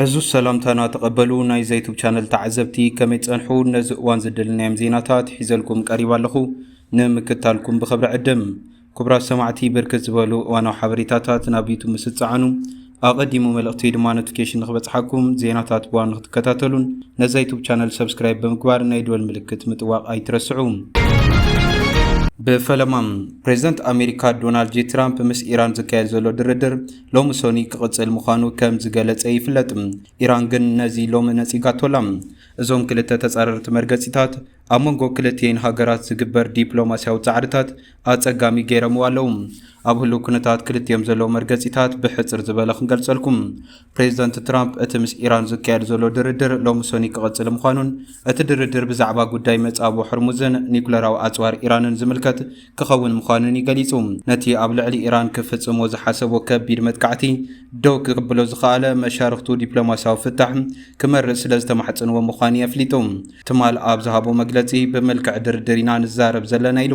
ዕዙዝ ሰላምታና ተቐበሉ ናይ ዘይቱብ ቻነል ተዓዘብቲ ከመይ ጸንሑ ነዚ እዋን ዝደልናዮም ዜናታት ሒዘልኩም ቀሪብ ኣለኹ ንምክታልኩም ብኽብሪ ዕድም ክቡራት ሰማዕቲ ብርክት ዝበሉ እዋናዊ ሓበሬታታት ናብ ዩቱብ ምስ እትጸዓኑ ኣቐዲሙ መልእኽቲ ድማ ኖቲፊኬሽን ንክበጽሓኩም ዜናታት ብዋን ንክትከታተሉን ነዛ ዩቱብ ቻነል ሰብስክራይብ ብምግባር ናይ ደወል ምልክት ምጥዋቕ ኣይትረስዑ። ብፈለማ ፕሬዚደንት ኣሜሪካ ዶናልድ ጄ ትራምፕ ምስ ኢራን ዝካየድ ዘሎ ድርድር ሎሚ ሰኑይ ክቕጽል ምዃኑ ከም ዝገለጸ ይፍለጥ። ኢራን ግን ነዚ ሎሚ ነጺጋቶ ኣላ። እዞም ክልተ ተጻረርቲ መርገጺታት፣ ኣብ መንጎ ክልቲኤን ሃገራት ዝግበር ዲፕሎማስያዊ ጻዕርታት ኣጸጋሚ ገይረምዎ ኣለዉ። ኣብ ህሉው ኩነታት ክልቲኦም ዘለዉ መርገጺታት ብሕጽር ዝበለ ክንገልጸልኩም። ፕሬዚደንት ትራምፕ እቲ ምስ ኢራን ዝካየድ ዘሎ ድርድር ሎሚ ሰኑይ ክቕጽል ምዃኑን እቲ ድርድር ብዛዕባ ጉዳይ መጻብቦ ሕርሙዝን ኒኩለራዊ ኣጽዋር ኢራንን ዝምልከት ክኸውን ምዃኑን'ዩ ገሊጹ። ነቲ ኣብ ልዕሊ ኢራን ክፍጽሞ ዝሓሰቦ ከቢድ መጥቃዕቲ ደው ክብሎ ዝኸኣለ፣ መሻርኽቱ ዲፕሎማስያዊ ፍታሕ ክመርጽ ስለ ዝተማሕጸንዎ ምዃኑ'ዩ ኣፍሊጡ። ትማል ኣብ ዝሃቦ መግለጺ፣ ብመልክዕ ድርድር ኢና ንዛረብ ዘለና ኢሉ።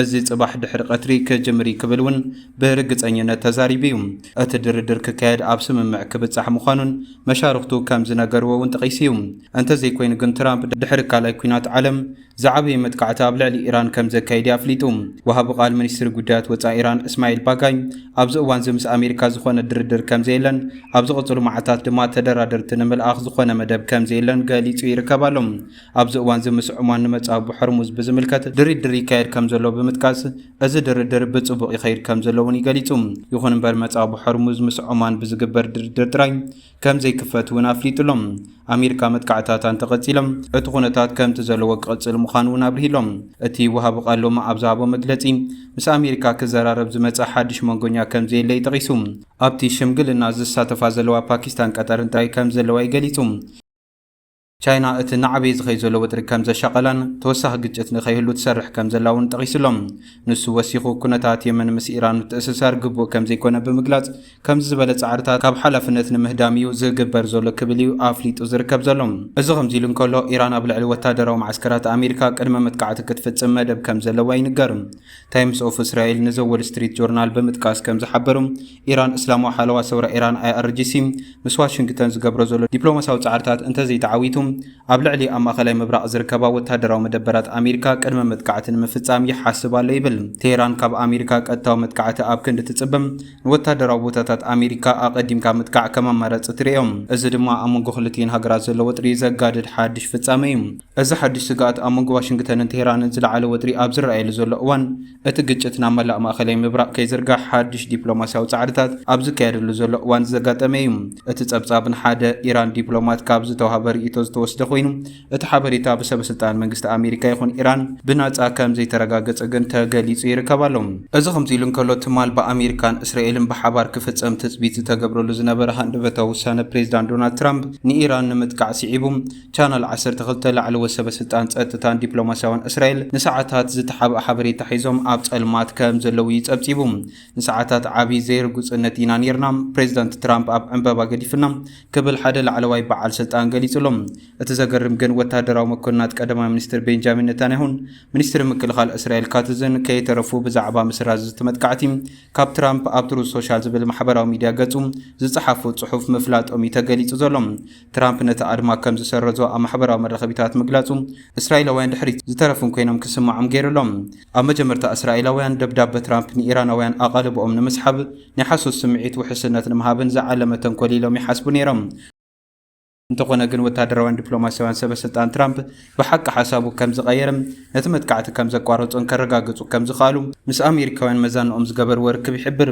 እዚ ጽባሕ ድሕሪ ቀትሪ ክጅምር'ዩ ክብል'ውን ብርግጸኝነት ተዛሪቡ'ዩ። እቲ ድርድር ክካየድ ኣብ ስምምዕ ክብጻሕ ምዃኑን መሻርኽቱ ከም ዝነገርዎ'ውን ጠቒሱ'ዩ። እንተዘይኮይኑ ግን ትራምፕ ድሕሪ ካልኣይ ኲናት ዓለም፣ ዝዓበየ መጥቃዕቲ ኣብ ልዕሊ ኢራን ከም ዘካይድ'ዩ ኣፍሊጡ። ወሃቢ ቃል ሚኒስትሪ ጉዳያት ወጻኢ ኢራን እስማኤል ባጋይ፣ ኣብዚ እዋን'ዚ ምስ ኣሜሪካ ዝኾነ ድርድር ከም ዘየለን፣ ኣብ ዝቕጽሉ መዓልታት ድማ ተደራደርቲ ንምልኣኽ ዝኾነ መደብ ከም ዘየለን ገሊጹ ይርከብ ኣሎ። ኣብዚ እዋን'ዚ ምስ ዑማን ንመጻብቦ ሖርሙዝ ብዝምልከት ድርድር ይካየድ ከም ዘሎ ብምጥቃስ፣ እዚ ድርድር ብጽቡቕ ይኸይድ ከም ዘሎ'ውን ገሊጹ። ይኹን'ምበር መጻብቦ ሖርሙዝ ምስ ዑማን ብዝግበር ድርድር ጥራይ፣ ከም ዘይክፈት እውን ኣፍሊጡ ኣሎ። ኣሜሪካ መጥቃዕታታ እንተቐጺሎም እቲ ኩነታት ከምቲ ዘለዎ ክቕጽል ምዃኑ እውን ኣብሪሁ ኣሎ። እቲ ወሃቢ ቃል ሎሚ ኣብ ዝሃቦ መግለጺ ምስ ኣሜሪካ ክዘራረብ ዝመጸ ሓድሽ መንጎኛ ከም ዘየለ እዩ ጠቒሱ። ኣብቲ ሽምግልና ዝሳተፋ ዘለዋ ፓኪስታን ቀጠርን ጥራይ ከም ዘለዋ እዩ ገሊጹ። ቻይና እቲ እናዓበየ ዝኸይድ ዘሎ ወጥሪ ከም ዘሻቐላን ተወሳኺ ግጭት ንከይህሉ ትሰርሕ ከም ዘላ እውን ጠቒሱ ኣሎ። ንሱ ወሲኹ፣ ኩነታት የመን ምስ ኢራን ምትእስሳር ግቡእ ከም ዘይኰነ ብምግላጽ፣ ከምዚ ዝበለ ጻዕርታት ካብ ሓላፍነት ንምህዳም እዩ ዝግበር ዘሎ ክብል እዩ ኣፍሊጡ ዝርከብ ዘሎ። እዚ ከምዚ ኢሉ እንከሎ፣ ኢራን ኣብ ልዕሊ ወተሃደራዊ መዓስከራት ኣሜሪካ ቅድመ መጥቃዕቲ ክትፍጽም መደብ ከም ዘለዋ ይንገር። ታይምስ ኦፍ እስራኤል ንዘ ዎል ስትሪት ጆርናል ብምጥቃስ ከም ዝሓበሩ፣ ኢራን እስላማዊ ሓለዋ ሰውራ ኢራን፣ IRGC፣ ምስ ዋሽንግተን ዝገብሮ ዘሎ ዲፕሎማስያዊ ጻዕርታት እንተዘይተዓዊቱ፣ ኣብ ልዕሊ ኣብ ማእከላይ ምብራቕ ዝርከባ ወተሃደራዊ መደበራት ኣሜሪካ ቅድመ መጥቃዕቲ ንምፍጻም ይሓስብ ኣሎ ይብል። ቴህራን ካብ ኣሜሪካ ቀጥታዊ መጥቃዕቲ ኣብ ክንዲ ትጽበ፣ ንወተሃደራዊ ቦታታት ኣሜሪካ ኣቐዲምካ ምጥቃዕ ከም ኣማራጺ ትርእዮ። እዚ ድማ ኣብ መንጎ ክልቲኤን ሃገራት ዘሎ ወጥሪ ዘጋድድ ሓድሽ ፍጻመ እዩ። እዚ ሓድሽ ስግኣት ኣብ መንጎ ዋሽንግተንን ቴህራንን ዝለዓለ ወጥሪ ኣብ ዝረኣየሉ ዘሎ እዋን፣ እቲ ግጭት ናብ መላእ ማእከላይ ምብራቕ ከይዝርጋሕ ሓድሽ ዲፕሎማስያዊ ጻዕርታት ኣብ ዝካየደሉ ዘሎ እዋን ዘጋጠመ እዩ። እቲ ጸብጻብ ንሓደ ኢራን ዲፕሎማት ካብ ዝተዋህበ ርእይቶ ዝተወስደ ኮይኑ፣ እቲ ሓበሬታ ብሰበስልጣን መንግስቲ ኣሜሪካ ይኹን ኢራን ብናጻ ከም ዘይተረጋገጸ ግን ተገሊጹ ይርከብ ኣሎ። እዚ ከምዚ ኢሉ እንከሎ፣ ትማል ብኣሜሪካን እስራኤልን ብሓባር ክፍጸም ትጽቢት ዝተገብረሉ ዝነበረ ሃንደበታዊ ውሳነ ፕሬዝዳንት ዶናልድ ትራምፕ ንኢራን ንምጥቃዕ ስዒቡ፣ ቻነል ዓሰርተ ክልተ፣ ላዕለዎት ሰበስልጣን ጸጥታን ዲፕሎማስያውን እስራኤል ንሰዓታት ዝተሓብኣ ሓበሬታ ሒዞም ኣብ ጸልማት ከም ዘለዉ'ዩ ጸብጺቡ። ንሰዓታት ዓቢ ዘይርጉጽነት ኢና ኔርና፣ ፕሬዚዳንት ትራምፕ ኣብ ዕንበባ ገዲፉና ክብል ሓደ ላዕለዋይ በዓል ስልጣን ገሊጹ ኣሎ። እቲ ዘገርም ግን ወተሃደራዊ መኮንናት ቀዳማይ ሚኒስትር ቤንጃሚን ነታንያሁን ሚኒስትሪ ምክልኻል እስራኤል ካትዝን ከይተረፉ ብዛዕባ ምስራዝ እቲ መጥቃዕቲ ካብ ትራምፕ ኣብ ትሩዝ ሶሻል ዝብል ማሕበራዊ ሚድያ ገጹ ዝጸሓፎ ጽሑፍ ምፍላጦም'ዩ ተገሊጹ ዘሎ። ትራምፕ ነቲ ኣድማ ከም ዝሰረዞ ኣብ ማሕበራዊ መራኸቢታት ምግላጹ፣ እስራኤላውያን ድሕሪት ዝተረፉን ኰይኖም ክስምዖም ገይሩ ኣሎ። ኣብ መጀመርታ እስራኤላውያን፣ ደብዳበ ትራምፕ ንኢራናውያን ኣቓልቦኦም ንምስሓብ፣ ናይ ሓሶት ስምዒት ውሕስነት ንምሃብን ዝዓለመ ተንኰል ኢሎም ይሓስቡ ነይሮም። እንተዀነ ግን፣ ወተሃደራውያን ዲፕሎማስያውያን ሰበስልጣን ትራምፕ ብሓቂ ሓሳቡ ከም ዝቐየረን ነቲ መጥቃዕቲ ከም ዘቋረጾን ከረጋግጹ ከም ዝኸኣሉ ምስ ኣሜሪካውያን መዛንኦም ዝገበርዎ ርክብ ይሕብር።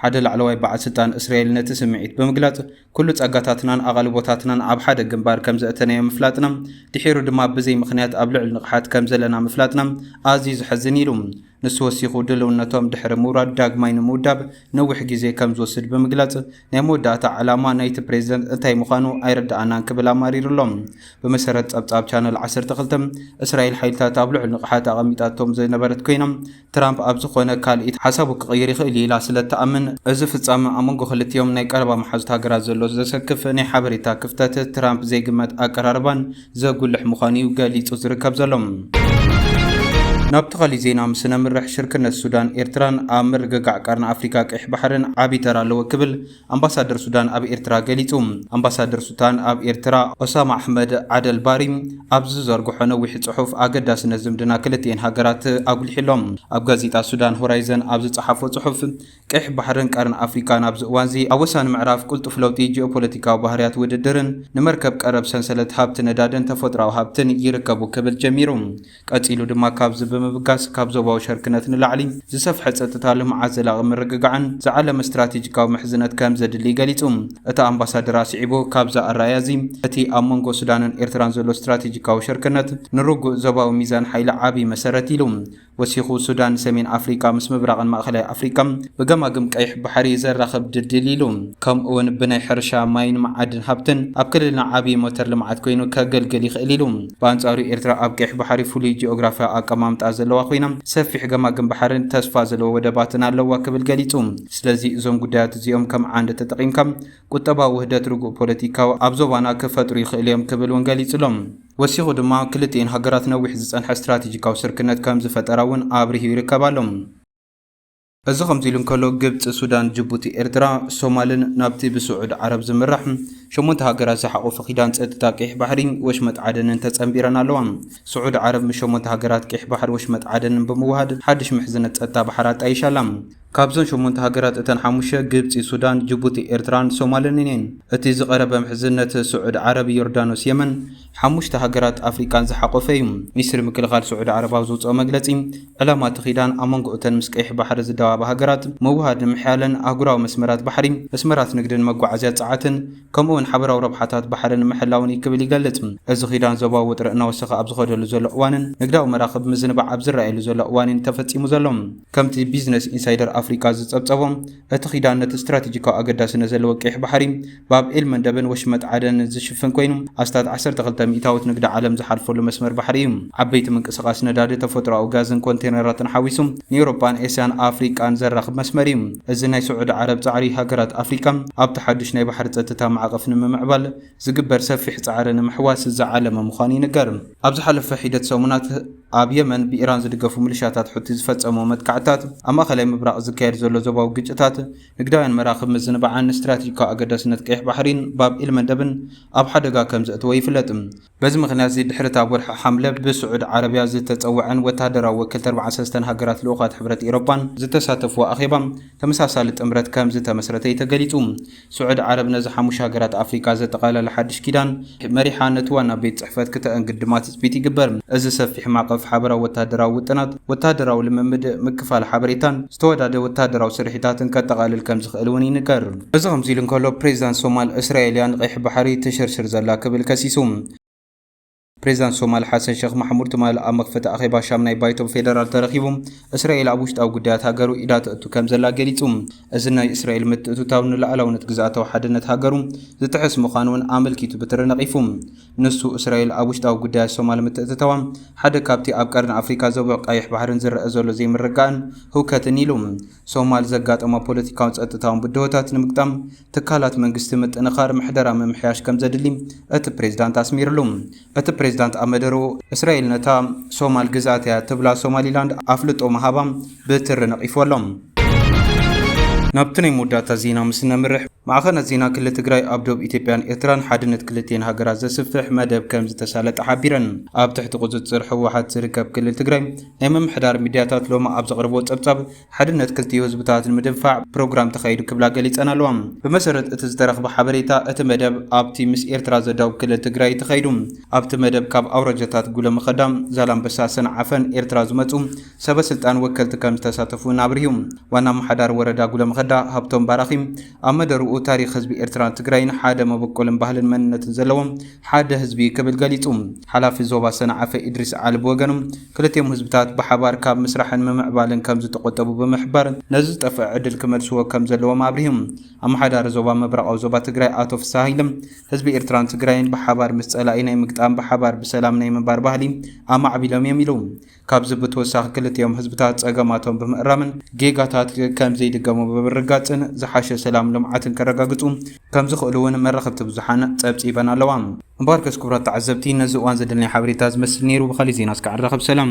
ሓደ ላዕለዋይ በዓል ስልጣን እስራኤል ነቲ ስምዒት ብምግላጽ፣ ኩሉ ጸጋታትናን ኣቓልቦታትናን ኣብ ሓደ ግንባር ከም ዘእተናዮ ምፍላጥና፣ ድሒሩ ድማ ብዘይ ምኽንያት ኣብ ልዑል ንቕሓት ከም ዘለና ምፍላጥና ኣዝዩ ዘሕዝን ኢሉ። ንሱ ወሲኹ ድልውነቶም ድሕሪ ምውራድ ዳግማይ ንምውዳብ ነዊሕ ግዜ ከም ዝወስድ ብምግላጽ፣ ናይ መወዳእታ ዕላማ ናይቲ ፕሬዝደንት እንታይ ምዃኑ ኣይርደኣናን ክብል ኣማሪሩ ኣሎ። ብመሰረት ጸብጻብ ቻነል ዓሰርተ ክልተ፣ እስራኤል ሓይልታት ኣብ ልዑል ንቕሓት ኣቐሚጣቶም ዝነበረት ኮይና፣ ትራምፕ ኣብ ዝኾነ ካልኢት ሓሳቡ ክቕይር ይኽእል እዩ ኢላ ስለ እትኣምን፣ እዚ ፍጻመ ኣብ መንጎ ክልቲኦም ናይ ቀረባ መሓዙት ሃገራት ዘሎ ዘሰክፍ ናይ ሓበሬታ ክፍተት፣ ትራምፕ ዘይግመት ኣቀራርባን ዘጉልሕ ምዃኑ'ዩ ገሊጹ ዝርከብ ዘሎ። ናብ ተኻሊ ዜና ምስ ነምርሕ፣ ሽርክነት ሱዳን ኤርትራን ኣብ ምርግጋዕ ቀርኒ ኣፍሪካ ቀይሕ ባሕርን ዓቢ ተራ ኣለዎ ክብል ኣምባሳደር ሱዳን ኣብ ኤርትራ ገሊጹ። ኣምባሳደር ሱታን ኣብ ኤርትራ ኦሳማ ኣሕመድ ዓደል ባሪ ኣብ ዝዘርግሖ ነዊሕ ጽሑፍ ኣገዳስነት ዝምድና ክልቲኤን ሃገራት ኣጉሊሑ ኣሎ። ኣብ ጋዜጣ ሱዳን ሆራይዘን ኣብ ዝጸሓፎ ጽሑፍ፣ ቀይሕ ባሕርን ቀርኒ ኣፍሪቃን ኣብዚ እዋንዚ ኣብ ወሳኒ ምዕራፍ ቅልጡፍ ለውጢ ጂኦፖለቲካዊ ባህርያት ውድድርን ንመርከብ ቀረብ ሰንሰለት ሃብቲ ነዳድን ተፈጥሮኣዊ ሃብትን ይርከቡ ክብል ጀሚሩ። ቀጺሉ ድማ ካብዚ ብምብጋስ ካብ ዞባዊ ሸርክነት ንላዕሊ ዝሰፍሐ ጸጥታ፣ ልምዓት፣ ዘላቒ ምርግጋዕን ዝዓለመ ስትራቴጂካዊ ምሕዝነት ከም ዘድሊ ገሊጹ። እቲ ኣምባሳደር ኣስዒቡ ካብዚ ኣረኣእያ እዚ እቲ ኣብ መንጎ ሱዳንን ኤርትራን ዘሎ ስትራቴጂካዊ ሸርክነት ንርጉእ ዞባዊ ሚዛን ሓይሊ ዓቢ መሰረት ኢሉ። ወሲኹ ሱዳን ሰሜን ኣፍሪቃ ምስ ምብራቕን ማእከላይ ኣፍሪቃ ብገማግም ቀይሕ ባሕሪ ዘራኽብ ድልድል ኢሉ። ከምኡ'ውን ብናይ ሕርሻ፣ ማይን መዓድን ሃብትን ኣብ ክልልና ዓቢ ሞተር ልምዓት ኮይኑ ከገልግል ይኽእል ኢሉ። ብኣንጻሩ ኤርትራ ኣብ ቀይሕ ባሕሪ ፍሉይ ጂኦግራፍያዊ ኣቀማምጣ ዘለዋ ኮይና፣ ሰፊሕ ገማግም ባሕርን ተስፋ ዘለዎ ወደባትን ኣለዋ ክብል ገሊጹ። ስለዚ እዞም ጉዳያት እዚኦም ከም ዓንዲ ተጠቒምካ ቁጠባዊ ውህደት ርጉእ ፖለቲካዊ ኣብ ዞባና ክፈጥሩ ይኽእሉ እዮም ክብል እውን ገሊጹ'ሎ። ወሲኹ ድማ ክልቲኤን ሃገራት ነዊሕ ዝጸንሐ ስትራቴጂካዊ ስርክነት ከም ዝፈጠራ እውን ኣብሪሁ ይርከብ ኣሎ። እዚ ከምዚሉ እንከሎ፣ ግብጺ፣ ሱዳን፣ ጅቡቲ፣ ኤርትራ፣ ሶማልን ናብቲ ብስዑድ ዓረብ ዝምራሕ ሸሞንተ ሃገራት ዝሓቖፈ ኪዳን ጸጥታ ቄሕ ባሕሪ ወሽመጥ ዓደንን ተጸንቢረን ኣለዋ። ስዑድ ዓረብ ምስ ሸሞንተ ሃገራት ቄሕ ባሕሪ ወሽመጥ ዓደንን ብምውሃድ ሓድሽ ምሕዝነት ጸጥታ ባሕሪ ኣጣይሻ ኣላ። ካብዘን ሸሞንተ ሃገራት እተን ሓሙሽተ ግብጺ፣ ሱዳን፣ ጅቡቲ፣ ኤርትራን ሶማልን እየን። እቲ ዝቐረበ ምሕዝነት ስዑድ ዓረብ፣ ዮርዳኖስ፣ የመን፣ ሓሙሽተ ሃገራት ኣፍሪቃን ዝሓቖፈ እዩ። ሚኒስትሪ ምክልኻል ስዑዲ ዓረብ ኣብ ዘውጽኦ መግለጺ፣ ዕላማ እቲ ኪዳን ኣብ መንጎ እተን ምስ ቀይሕ ባሕሪ ዝዳወባ ሃገራት ምውህሃድ ንምሕያልን ኣህጉራዊ መስመራት ባሕሪ፣ መስመራት ንግድን መጓዓዝያ ጸዓትን፣ ከምኡ'ውን ሓበራዊ ረብሓታት ባሕሪ ንምሕላውን እዩ ክብል ይገልጽ። እዚ ኪዳን ዞባዊ ውጥረት እናወሰኸ ኣብ ዝኸደሉ ዘሎ እዋንን ንግዳዊ መራኽብ ምዝንባዕ ኣብ ዝረኣየሉ ዘሎ እዋን'ዩ ተፈጺሙ ዘሎ። ከምቲ ቢዝነስ ኢንሳይደር ኣፍሪቃ ዝጸብጸቦ፣ እቲ ኪዳን ነቲ ስትራቴጂካዊ ኣገዳስነት ዘለዎ ቀይሕ ባሕሪ፣ ባብ ኤል-መንደብን ወሽመጥ ዓደንን ዝሽፍን ኮይኑ፣ ኣስታት ዓሰርተ ክልተ ሚእታዊት ንግዲ ዓለም ዝሓልፈሉ መስመር ባሕሪ እዩ። ዓበይቲ ምንቅስቓስ ነዳዲ፣ ተፈጥሮኣዊ ጋዝን ኮንቴነራትን ሓዊሱ ንኤውሮጳን ኤስያን ኣፍሪቃን ዘራኽብ መስመር እዩ። እዚ ናይ ስዑዲ ዓረብ ጻዕሪ፣ ሃገራት ኣፍሪቃ ኣብቲ ሓድሽ ናይ ባሕሪ ጸጥታ ማዕቐፍ ንምምዕባል፣ ዝግበር ሰፊሕ ጻዕሪ ንምሕዋስ ዝዓለመ ምዃኑ ይንገር። ኣብ ዝሓለፈ ሒደት ሰሙናት፣ ኣብ የመን ብኢራን ዝድገፉ ምልሻታት ሑቲ ዝፈጸምዎ መጥቃዕትታት፣ ኣብ ማእከላይ ምብራቕ ዝካየድ ዘሎ ዞባዊ ግጭታት፣ ንግዳውያን መራኽብ ምዝንባዕን ንስትራቴጂካዊ ኣገዳስነት ቀይሕ ባሕሪን ባብ ኤል-መንደብን ኣብ ሓደጋ ከም ዘእተወ ይፍለጥ። በዚ ምኽንያት'ዚ፣ ድሕሪ'ቲ ኣብ ወርሒ ሓምለ ብስዑድ ዓረብያ ዝተጸወዐን ወተሃደራዊ ወከልቲ ኣርብዓን ሰለስተን ሃገራት ልኡኻት ሕብረት ኤሮጳን ዝተሳተፍዎ ኣኼባ፣ ተመሳሳሊ ጥምረት ከም ዝተመስረተ እዩ ተገሊጹ። ስዑዲ ዓረብ ነዚ ሓሙሽተ ሃገራት ኣፍሪቃ ዘጠቓለለ ሓድሽ ኪዳን መሪሓ ነቲ ዋና ቤት ጽሕፈት ክተእንግድ ድማ ትጽቢት ይግበር። እዚ ሰፊሕ ማዕቐፍ ሓበራዊ ወተሃደራዊ ውጥናት፣ ወተሃደራዊ ልምምድ፣ ምክፋል ሓበሬታን ዝተወዳደ ወተሃደራዊ ስርሒታትን ከጠቓልል ከም ዝኽእል እውን ይንገር። እዚ ከምዚ ኢሉ እንከሎ፣ ፕሬዚዳንት ሶማል፣ እስራኤል እያ ንቀይሕ ባሕሪ ተሸርሽር ዘላ ክብል ከሲሱ። ፕሬዚዳንት ሶማል ሓሰን ሸኽ ማሕሙድ ትማሊ ኣብ መኽፈቲ ኣኼባ ሻምናይ ባይቶ ፌደራል ተረኺቡ እስራኤል ኣብ ውሽጣዊ ጉዳያት ሃገሩ ኢዳ ተእቱ ከም ዘላ ገሊጹ። እዚ ናይ እስራኤል ምትእትታው ንሉዓላውነት ግዝኣታዊ ሓድነት ሃገሩ ዝጥሕስ ምዃኑ'ውን ኣመልኪቱ ብትሪ ነቒፉ። ንሱ እስራኤል ኣብ ውሽጣዊ ጉዳያት ሶማል ምትእትታዋ ሓደ ካብቲ ኣብ ቀርኒ ኣፍሪቃ ዞብዕ ቀይሕ ባሕርን ዝረኣ ዘሎ ዘይምርግጋእን ህውከትን ኢሉ። ሶማል ዘጋጠማ ፖለቲካውን ጸጥታውን ብድሆታት ንምግጣም ትካላት መንግስቲ ምጥንኻር ምሕደራ ምምሕያሽ ከምዘድሊ እቲ ፕሬዝዳንት ኣስሚርሉ። እቲ ፕሬዝዳንት ኣብ መደርኡ፣ እስራኤል ነታ ሶማል ግዝኣት እያ እትብላ ሶማሊላንድ ኣፍልጦ ምሃባ ብትሪ ነቒፍዎ ኣሎ። ናብቲ ናይ መወዳእታ ዜና ምስ እነምርሕ፣ ማዕኸናት ዜና ክሊ ትግራይ ኣብ ዶብ ኢትዮጵያን ኤርትራን ሓድነት ክልቲኤን ሃገራት ዘስፍሕ መደብ ከምዝተሳለጠ ሓቢረን። ኣብ ትሕቲ ቁፅፅር ህወሓት ዝርከብ ክልል ትግራይ ናይ ምምሕዳር ሚድያታት ሎሚ ኣብ ዘቕርብዎ ፀብፃብ ሓድነት ክልቲኡ ህዝብታት ንምድንፋዕ ፕሮግራም ተኻይዱ ክብላ ገሊፀን ኣለዋ። ብመሰረት እቲ ዝተረኽበ ሓበሬታ እቲ መደብ ኣብቲ ምስ ኤርትራ ዘዳውብ ክልል ትግራይ እዩ ተኻይዱ። ኣብቲ መደብ ካብ ኣውራጃታት ጉለመኸዳ፣ ዛላምበሳ፣ ሰንዓፈን ኤርትራ ዝመፁ ሰበ ስልጣን ወከልቲ ከምዝተሳተፉ እውን ኣብሪሁ። ዋና ኣመሓዳሪ ወረዳ ጉለመኸዳ ሃብቶም ባራኺ፣ ኣብ መደርኡ ታሪኽ ህዝቢ ኤርትራን ትግራይን ሓደ መበቆልን ባህልን መንነትን ዘለዎም ሓደ ህዝቢ እዩ ክብል ገሊጹ። ሓላፊ ዞባ ሰንዓፈ ኢድሪስ ዓሊ ብወገኑ፣ ክልቲኦም ህዝብታት ብሓባር ካብ ምስራሕን ምምዕባልን ከም ዝተቖጠቡ ብምሕባር፣ ነዚ ዝጠፍኣ ዕድል ክመልስዎ ከም ዘለዎም ኣብሪሁ። ኣመሓዳሪ ዞባ ምብራቓዊ ዞባ ትግራይ ኣቶ ፍስሃ ሃይለ፣ ህዝቢ ኤርትራን ትግራይን ብሓባር ምስ ጸላኢ ናይ ምግጣም ብሓባር ብሰላም ናይ ምንባር ባህሊ ኣማዕቢሎም እዮም ኢሉ። ካብዚ ብተወሳኺ ክልቲኦም ህዝብታት ፀገማቶም ብምእራምን ጌጋታት ከምዘይድገሙ ብምርግጋፅን ዝሓሸ ሰላምን ልምዓትን ከረጋግፁ ከምዝኽእሉ እውን መራኸብቲ ብዙሓን ፀብፂበን ኣለዋ። እምበኣርከስ ክቡራት ተዓዘብቲ ነዚ እዋን ዘድለናይ ሓበሬታ ዝመስል ነይሩ። ብኻሊእ ዜና እስከ ዕራኸብ ሰላም።